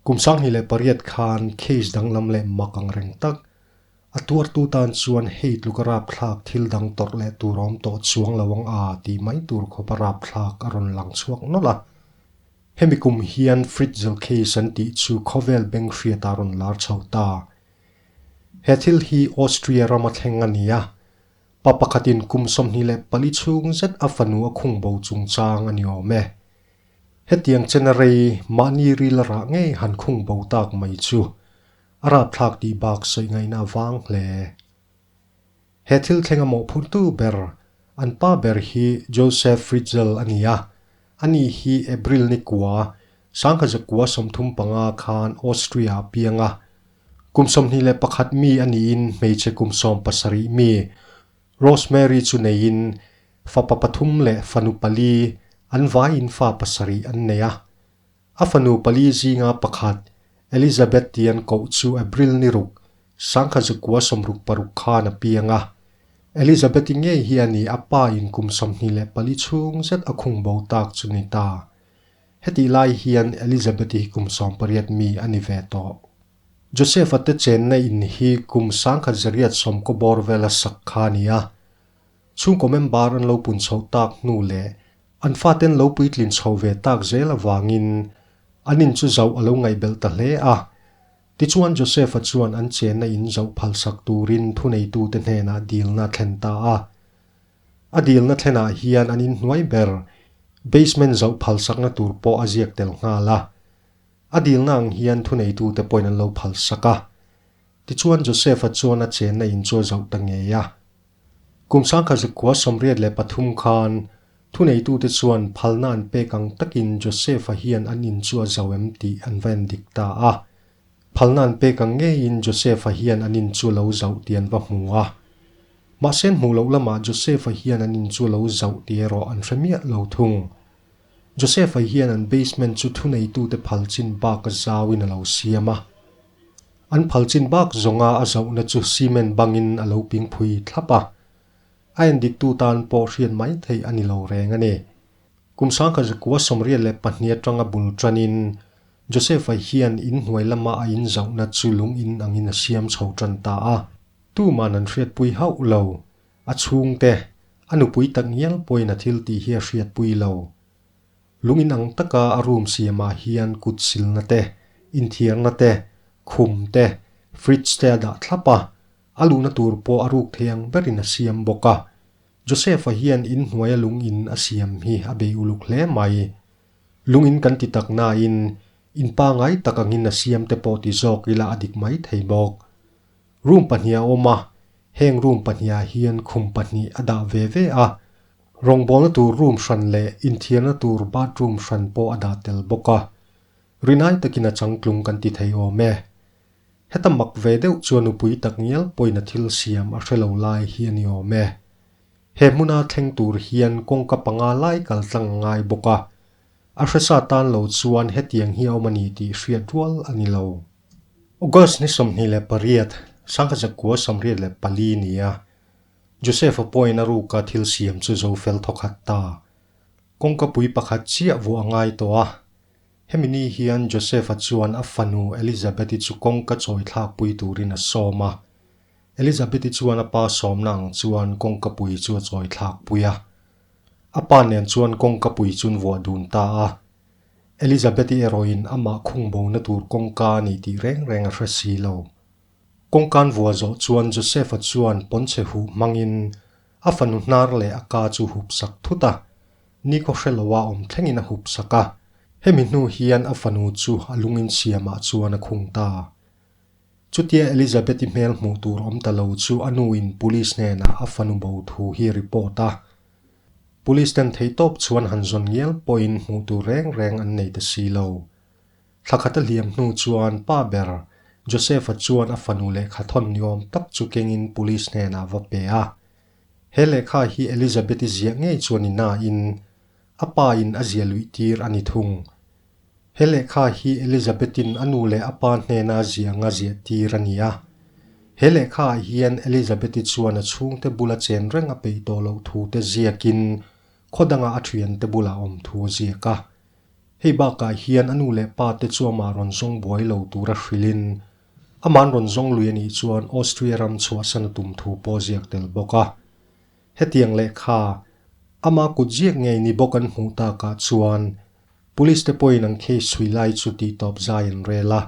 Kum sanghnih leh pariat khan case danglam leh mak ang reng tak. A tuartu tan chuan hei tluka rapthlak thil dang tawrh leh tur a awm tawh chuang lo ang a tih mai tur khawpa rapthlak a rawn lang chhuak nawlh a. Hemi kum hian Fritzel case an tih chu khawvel benghriatah a rawn lar chho ta. He thil hi Austria rama thleng a ni a, pa pakhatin kum sawmhnih leh pali chhung zet a fanu a khung bo chungchang a ni awm e. Hetiang chen a rei mahni ril a rah ngei han khung bo tak mai chu a rapthlak tih bak sawi ngaihna vang hle. He thil thlenga mawhphurtu ber an pa ber hi Joseph Fritzl a ni a, a ni hi April ni kua, Sangha zakua sawmthum panga khan Austria a piang a. Kum sawmhnih leh pakhat mi a niin hmeichhe kum sawm pasarih mi Rosemary chu neiin fapa pathum leh fanu pali an vai in fa pasarih an nei a. A fanu pali zinga pakhat Elizabeth tih an koh chu April ni ruk, sangkhat zakua sawmruk paruk khan a piang a. Elizabeth i ngei hi a ni a pa in kum sawmhnih leh pali chhung zet a khung bo tak chu ni ta. Hetih lai hian Elizabeth hi kum sawm pariat mi a ni ve tawh. Josepha te chenna in hi kum sangkhat zariat sawmkaw bawr vela sak kha a ni a. Chhungkaw member an lo pun chhoh tak hnu leh An fate'n lo puitlin chho ve tak zel avangin an in chu zauh a lo ngaihbelh ta hle a. Tichuan Joseph-a chuan an chenna in zauh phalsak turin thuneitute hnenah dilna a thlen ta a. A dilna thlenah hian an inhnuai ber, basement zauh phalsakna tur pawh a ziak tel nghal a. A dilna ang hian thuneitute pawhin an lo phalsak a. Tichuan Joseph-a chuan a chenna in chu a zauh ta ngei a. Kum sangkhat zakua sawmriat leh pathum khan thuneitute chuan phalna an pek ang takin Joseph-a hian an in chu a zau em tih an va en dik ta a. Phalna an pek ang ngeiin Joseph-a hian an in chu lo zauh tih an va hmu a. Mahse an hmuh loh lamah Joseph-a hian an in chu lo zauh tih erawh an hre miah lo thung. Joseph-a hian an basement chu thuneitute phal chin baka zauin a lo siam a. An phal chin bak zawnga a zauhna chu cement bangin a lo ping phui thlap a. A en diktu tan pawh hriat mai theih a ni lo reng a ni. Kum sangkhat zakua sawmriat leh pahnih atanga bul tanin Joseph-a hian in hnuai lama a in zauhna chu lungin angin a siam chho tan ta a. Tuman an hriatpui hauh lo. A chhungte, a nupui tak ngial pawhin a thiltih hi a hriatpui lo. Lung inang taka a room siamah hian kut silna te, inthiarna te, khum te, fridge te a dah thlap a, a luhna tur pawh a ruk thei ang berin a siam bawk a. Joseph-a hian in hnuaia lung in a siam hi a bei uluk hle mai. Lung in kan ti tak nain in pangai tak angin a siam te pawh ti zawk ila a dik mai thei bawk. Room pahnih a awm a, heng room pahnih ah hian khum pahnih a dah ve ve a, Rawngbawlna tur room hran leh inthiarna tur bathroom hran pawh a dah tel bawk a, rinai takin a changtlung kan ti thei awm e. Heta mak ve deuh chuan nupui tak ngial pawina thil siam a hre lo lai hi a ni awm e. He hmuna thleng tur hian kawngka panga lai kal tlang a ngai bawk a, a hresa tan lo chuan hetiang hi a awm a ni tih hriat rual a ni lo. August ni sawmhnih leh pariat, Sangha Zakua sawmriat leh pali nia Josepha Poina ruka thil siam chu Zofel thawkhat ta, kawngkapui pakhat chiah vuah a ngai tawh a. Hemi ni hian Josepha chuan a fanu Elizabeth-i chu kawngka chawithlakpui turin a sawm a. Elizabeth-i chuan a pa sawmna ang chuan kawngkapui chu a chawithlakpui a. A pa nen chuan kawngkapui chun vuah dun ta a. Elizabeth-i erawhin amah khungbona tur kawngka a ni tih reng reng a hre si lo. Kawngkan vua zawh chuan Joseph-a chuan pawnchhe huh hmangin a fanu hnar leh a ka chu hup sak thut a, Nico hre loa awm thlengin a hup sak a, hemi hnu hian a fanu chu a lungin siamah chuan a khung ta. Chutia Elizabeth-i hmel hmuh tur awm ta lo chu a nuin Police hnenah a fanu bo thu hi a report a. Police ten thei tawp chuan han zawn ngial pawhin hmuh tur reng reng an nei ta si lo. Thla khat a hliam hnu chuan pa ber Joseph-a chuan a fanu lehkha thawn ni awm tak chu kengin police hnenah a va pe a. He lehkha hi Elizabeth-i ziah ngei chuan i nain a pa in a zia luih tir a ni thung. He lehkha hi Elizabeth-in a nu leh a pa hnena zia anga ziah tir a ni a. He lehkha ah hian Elizabeth-i chuan a chhungte bula chen reng a peih tawh loh thu te ziakin khaw danga a thiante bulah awm thu a ziak a. Hei bakah hian a nu leh pa te chu amah rawn zawng buai lo tura hrilhin ama'n rawn zawng lui a nih chuan Austria ram chhuahsan a tum thu pawh a ziak tel bawk a. Hetiang leh kha ama kut ziak ngei ni bawk an hmuh takah chuan Police te pawhin an case chhui lai chu tihtawp zai an rel a.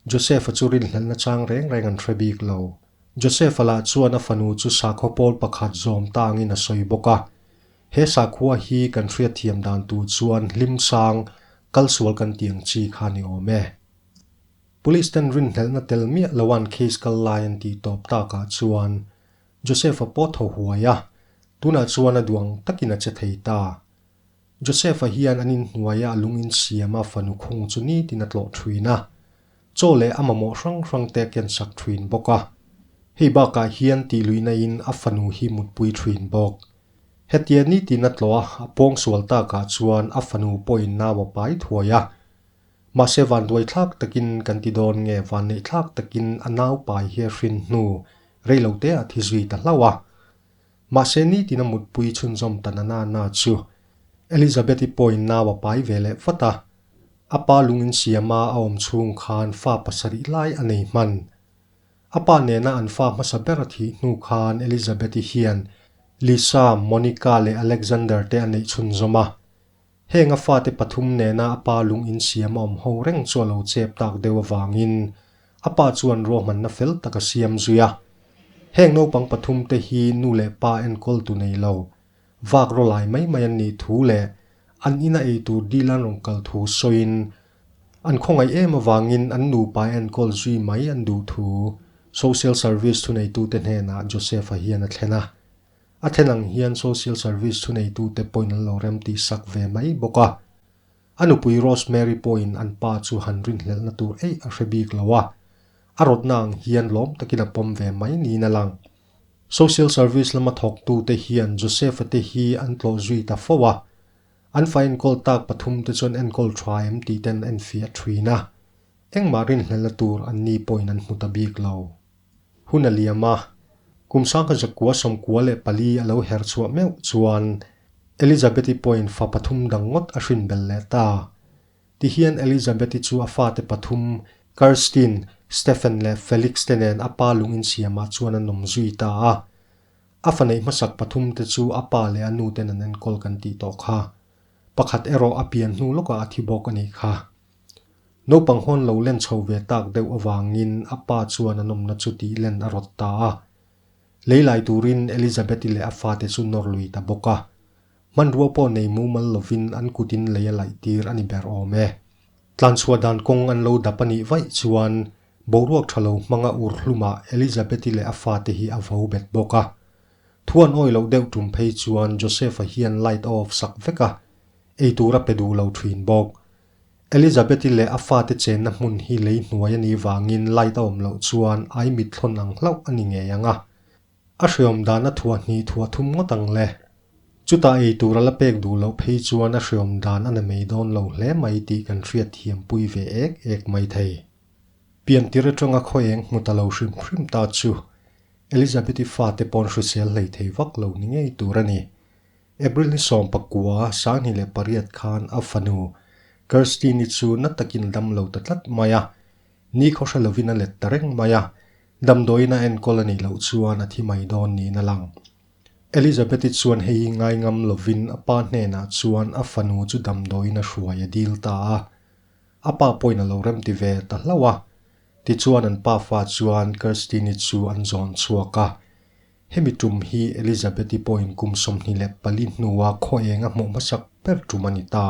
Josefa chu rinhlelna chang reng reng an hre bik lo. Josefa lah chuan a fanu chu sakhaw pawl pakhat zawm tangin a sawi bawk a, He sakhua hi kan hriatthiam dan tu chuan hlim sang kal sual kan ti ang chi kha ni awm e. Police ten rinhlelna tel miah loan case kal lai an tih tawp tak ah chuan Josefa pawh a tho huai a, tunah chuan a duang takin a che thei ta. Joseph-a hian an inhnuaia a lungin siama fanu khung chu nitin a tlawh thuin a, chaw leh a mamawh hrang hrangte a kensak thuin bawk a. Hei bakah hian tihluinaiin a fanu hi mutpui thuin bawk. Hetia nitin a tlawha a pawng sual takah chuan a fanu pawhin nau a pai thuai a. Mahse van duaithlak takin kan ti dawn nge van neihthlak takin a nau pai hi a hrin hnu, reilote a thi zui ta hlauh a. Mahse nitin a mutpui chhunzawm ta na nana chu Elizabeth-i pawin nau a pai ve leh vat a. A pa lung insiama a awm chhung khan fa pasarih lai a nei hman. A pa nena an fa hmasa ber a thih hnu khan Elizabeth-i hian Lisa, Monica leh Alexander-te a neih chhunzawm a. Heng a fate pathum nena a pa lung in siam a awm ho reng chu a lo chep tak deuh avangin a pa chuan ruahmanna fel tak a siam zui a. Heng naupang pathum te hi nu leh pa enkawl tu nei lo, vak ro lai mai mai an nih thu leh an in a ei tur dil an rawn kal thu sawiin an khawngaih em avangin an nupa enkawl zui mai an duh thu Social Service thuneitute hnenah Josepha hian a thlen a. A then ang hian Social Service thuneitute pawhin an lo rem tih sak ve mai bawk a. A nupui Rosemary pawhin an pa chu han rinhlelhna tur eih a hre bik lo a. A rawtna ang hian lawm takin a pawm ve mai niin a lang. Social Service lama thawktute hian Josepha te hi an tlawh zui ta fo a. An fa enkawl tak pathum te chuan enkawl tha em tih te an enfiah thin a. Engmah rinhlelhna tur an ni pawhin an hmu ta bik lo. Hun a liam a, kum sang kha zakua sawmkua leh pali a lo her chhuah meuh chuan Elizabeth-i pawhin fa pathum dang ngawt a hrin bel leh ta. Tihian Elizabeth-i chu a fate pathum Kerstin, Stephen leh Felix te nen a pa lungin siamah chuan an awm zui ta a. A faneih hmasak pathum te chu a pa leh a nu ten an enkawl kan tih tawh kha. Pakhat erawh a pian hnu lawkah a thi bawk a nih kha. Naupang hawn lo len chho ve tak deuh avangin a pa chuan an awmna chu tih len a rawt ta a. Lei lai turin Elizabeth-i leh a fate chu nawr lui ta bawk a. Hmanrua pawh nei mumal lovin an kutin lei a laih tir a ni ber awm e. Tlan chhuah dan kawng an lo dap a nih vaih chuan boruak tha lo hmanga ur hlumah Elizabeth-i leh a fate hi a vau bet bawk a. Thu an awi loh deuh tum phei chuan Joseph-a hian light a off sak vek a. Eitur a pe duh lo thin bawk. Elizabeth-i leh a fate chenna hmun hi lei hnuai a nih vangin light a awm loh chuan ai mitthlawn ang hlauh a ni ngei ang a. A hreawm dan a thuah hnih thuah thum ngawt ang le. Chutah eitur a la pek duh loh phei chuan a hreawm dan a na mei dawn lo hle mai tih kan hriat thiam pui ve ek ek mai thei. Piantir aṭanga khaw eng hmu ta lo hrim hrim ta chu Elizabeth-i fate paw'n hrisel hlei thei vak lo ni ngei tur a ni. April ni sawm pakua sanghnih leh pariat khan a fanu Kirsty ni chu na takin dam lo ta tlat mai a, ni khawhra lovin a let ta reng mai a, damdawiin a enkawl a nih loh chuan a thi mai dawn niin a lang. Elizabeth-i chuan hei hi ngai ngam lovin a pa hnenah chuan a fanu chu damdawiin a hruai a dil ta a, a pa pawhin a lo remti ve ta hlauh a. Tichuan an pa fa chuan Kirsty ni chu an zawn chhuak a, Hemi tum hi Elizabeth-i pawhin kum sawmhnih leh pali hnua khawenga hmuh hmasak ber tum a ni ta.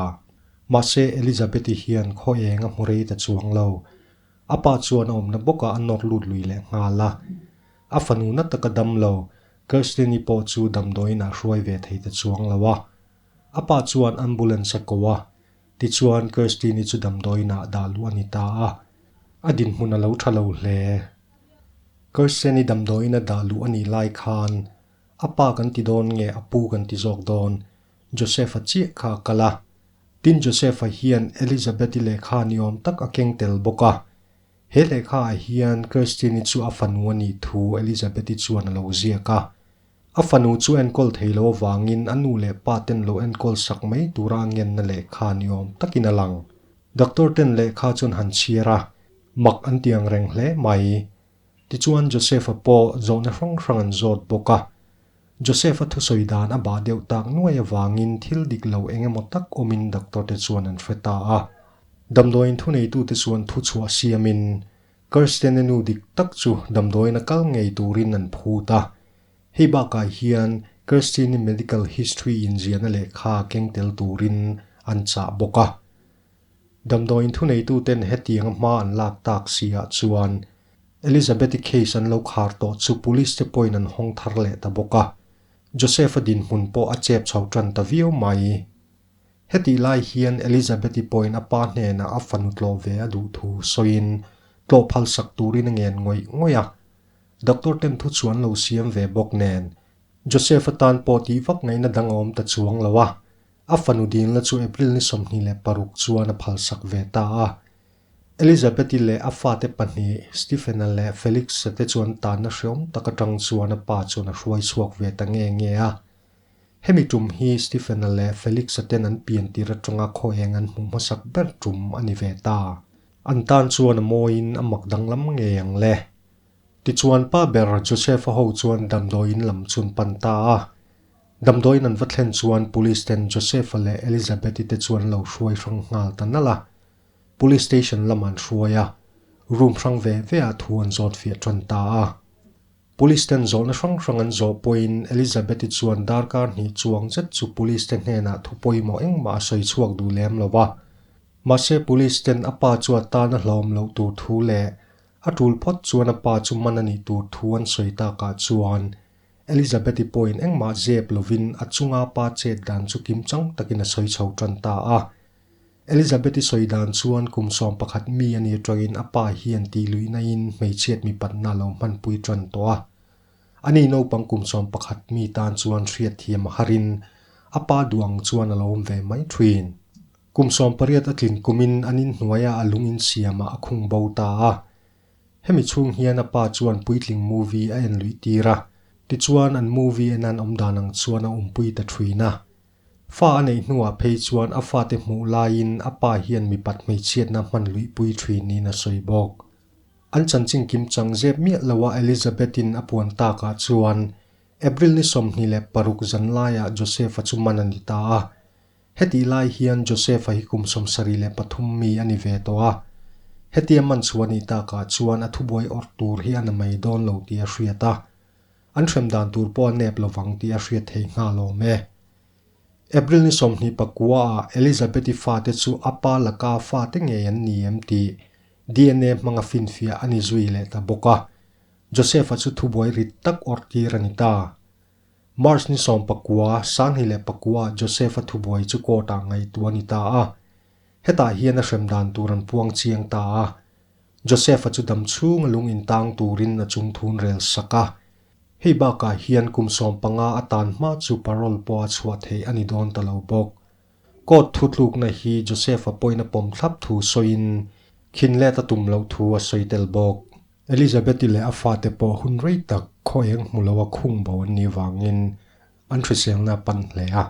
Mahse, Elizabeth-i hian khawenga hmu rei ta chuang lo. A pa chuan a awmna bawkah a nawr lut lui leh nghal a. A fanu na taka dam lo, Kirsten-i pawh chu damdawiinah hruai ve thei ta chuang lo a. A pa chuan ambulance a ko a, Tichuan, Kirsty ni chu damdawiinah dah luh a ni ta a, a dinhmun a lo tha lo hle. Kirsty ni damdawiin a dah luh a nih lai khan, a pa kan ti dawn nge a pu kan ti zawk dawn? Joseph-a chiah kha a kal a. Tin, Joseph-a hian Elizabeth-i lehkha ni awm tak a keng tel bawk a. He lehkhaah hian Kirstine-i chu a fanu a nih thu Elizabeth-i chuan a lo ziak a. A fanu chu enkawl thei lo avangin a nu leh pa ten lo enkawl sak mai tura a ngenna lehkha ni awm takin a lang. Doctor ten lehkha chuan han chhiar a, mak an tiang reng hle mai. Tichuan Joseph-a pawh zawhna hrang hrang an zawt bawk a. Joseph-a thusawi dan a bah deuh tak nuai avangin thil dik lo eng emaw tak awmin doctor-te chuan an hre ta a. Damdawiin thu neitute chuan thu chhuah siamin Kirsten-a nu dik tak chu damdawiin a kal ngei turin an phut a. Hei bakah hian Kirsten-i medical history inziahna lehkha keng tel turin an chah bawk a. Damdawiin thuneituten hetianga hma an lak tak si ah chuan Elizabeth i case an lo khar tawh chu police te pawhin an hawng thar leh ta bawk a. Joseph a dinhmun pawh a chep chho tan ta viau mai. Hetih lai hian Elizabeth i pawhin a pa hnenah a fanu tlawh ve a duh thu sawiin tlawh phalsak turin a ngen ngawih ngawih a. Doctor ten thu chu an lo siam ve bawk nen Joseph atan pawh tih vak ngaihna dang a awm ta chuang lo a. A fanu dinna chu April ni sawmhnih leh paruk chuan a phalsak ve ta a. Elizabeth-i leh a fate pahnih Stephen-a leh Felix-a te chuan tanna hreawm tak atang chuan a pa chuan a hruai chhuak ve ta nge nge a. Hemi tum hi Stephen-a leh Felix-a ten an pian tir atanga khaw eng an hmuh hmasak ber tum a ni ve ta. An tan chuan a mawiin a mak danglam ngei ang le. Tichuan pa ber Joseph-a ho chuan damdawiin lam chun pan ta a. Damdawiin an va thlen chuan Police ten Josepha leh Elizabeth-i te chu an lo hruai hrang nghal ta nalh a. Police station lamah an hruai a, room hrang ve veah thu an zawt fiah ṭan ta a. Police ten zawhna hrang hrang an zawh pawhin Elizabeth-i chuan darkar hnih chuang zet chu Police te hnenah thu pawimawh engmah a sawi chhuak duh lem lo a. Mahse Police ten a pa chu a tan a hlawm loh tur thu leh a ṭul phawt chuan a pa chu man a nih tur thu an sawi takah chuan Elizabeth i pawhin engmah zep lovin a chunga pa chet dan chu kim chang takin a sawi chho tan ta a. Elizabeth i sawi dan chuan kum sawm pakhat mi a ni ṭawhin a pa hian tih luinaiin hmeichhiat mi patna lo hmanpui ṭan tawh a. A ni naupang kum sawm pakhat mi tan chuan hriatthiam a harin a pa duang chuan a lo awm ve mai ṭhin. Kum sawm pariat a tlin kumin an inhnuaia a lung insiamah a khung bo ta a. Hemi chhung hian a pa chuan puitling movie a en luih tir a, tichuan an movie en an awm dan ang chuan a umpui ta thin a. Fa a neih hnuah phei chuan a fate hmuh laiin a pa hian mipat hmeichhiatna hman luihpui thin niin a sawi bawk. An chanching kim chang zep miah loha Elizabeth-in a puan takah chuan April ni sawmhnih leh paruk zanlaiah Joseph-a chu man a ni ta a. Hetih lai hian Joseph-a hi kum sawmsarih leh pathum mi a ni ve tawh a, hetia Manchu a nih takah chuan a thubuai awrh tur hi a na mei dawn lo tih a hriat a, an hrem dan tur pawh a nep lo vang tih a hriat theih nghal awm e. April ni sawmhnih pakua-ah Elizabeth-i fate chu a pa laka fate ngei an ni em tih DNA hmanga finfiah a ni zui leh ta bawk a, Joseph-a chu thubuai rit tak awrh tir a ni ta. March ni sawm pakua, Sanghnih leh pakua ah Joseph a thubuai chu court ah ngaihtuah a ni ta a. Hetah hian a hrem dan tur an puang chiang ta a. Joseph-a chu dam chhunga lung intang turin a chung thun rel sak a. Hei bakah hian kum sawm panga a tan hma chu parole pawh a chhuah theih a ni dawn ta lo bawk. Court thutlukna hi Joseph-a pawina pawm thlap thu sawiin khinlet a tum loh thu a sawi tel bawk. Elizabeth-i leh a fate pawh hun rei tak khaw eng hmu loa khung bo an nih vangin an hriselna a pan hle a.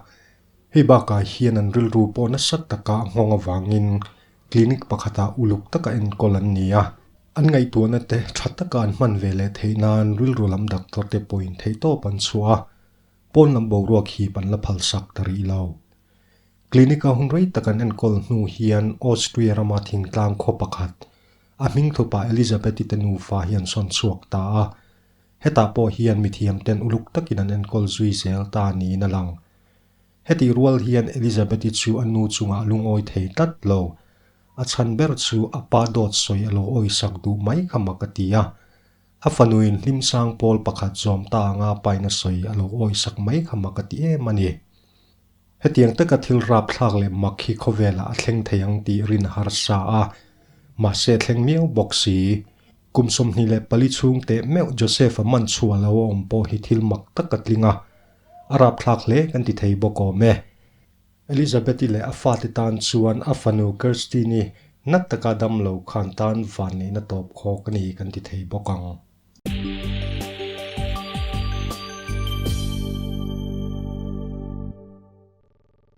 Hei bakah hian an rilru pawh nasa taka a nghawng avangin clinic pakhata uluk taka enkawl an ni a. An ngaihtuahnate tha taka an hman ve leh theih nan rilru lam doctor-te pawhin theihtawp an chhuah a. Pawn lam boruak hi man la phalsak ta rih lo. Clinic-a hun rei tak an enkawl hnu hian Austria rama thingtlang khaw pakhat, a hmingthupa Elisabeth-i te nufa hi an sawn chhuak ta a. Hetah pawh hian mithiam ten uluk takin an enkawl zui zel ta niin a lang. Hetih rual hian Elisabeth-i chu a nu chungah lungawi thei tlat lo. A chhan ber chu a pa dawt sawi a lo awisak duh mai kha mak a ti a. A fanuin hlimsang pawl pakhat zawm ta anga paina sawi a lo awi sak mai kha mak a ti em a ni. Hetiang taka thil rapthlak leh mak hi khawvelah a thleng thei ang tih rin a harsa a, mahse a thleng miau bawk si. Kum sawmhnih leh pali chhung teh meuh Joseph-a man chhuah a lo awm pawh hi thil mak tak a tling a, a rapthlak hle kan ti thei bawk awm e. Elizabeth-i leh a fate tan chuan a fanu Kerstin-i nat taka dam lo khan tan van neihna tawp khawk a ni kan ti thei bawk ang.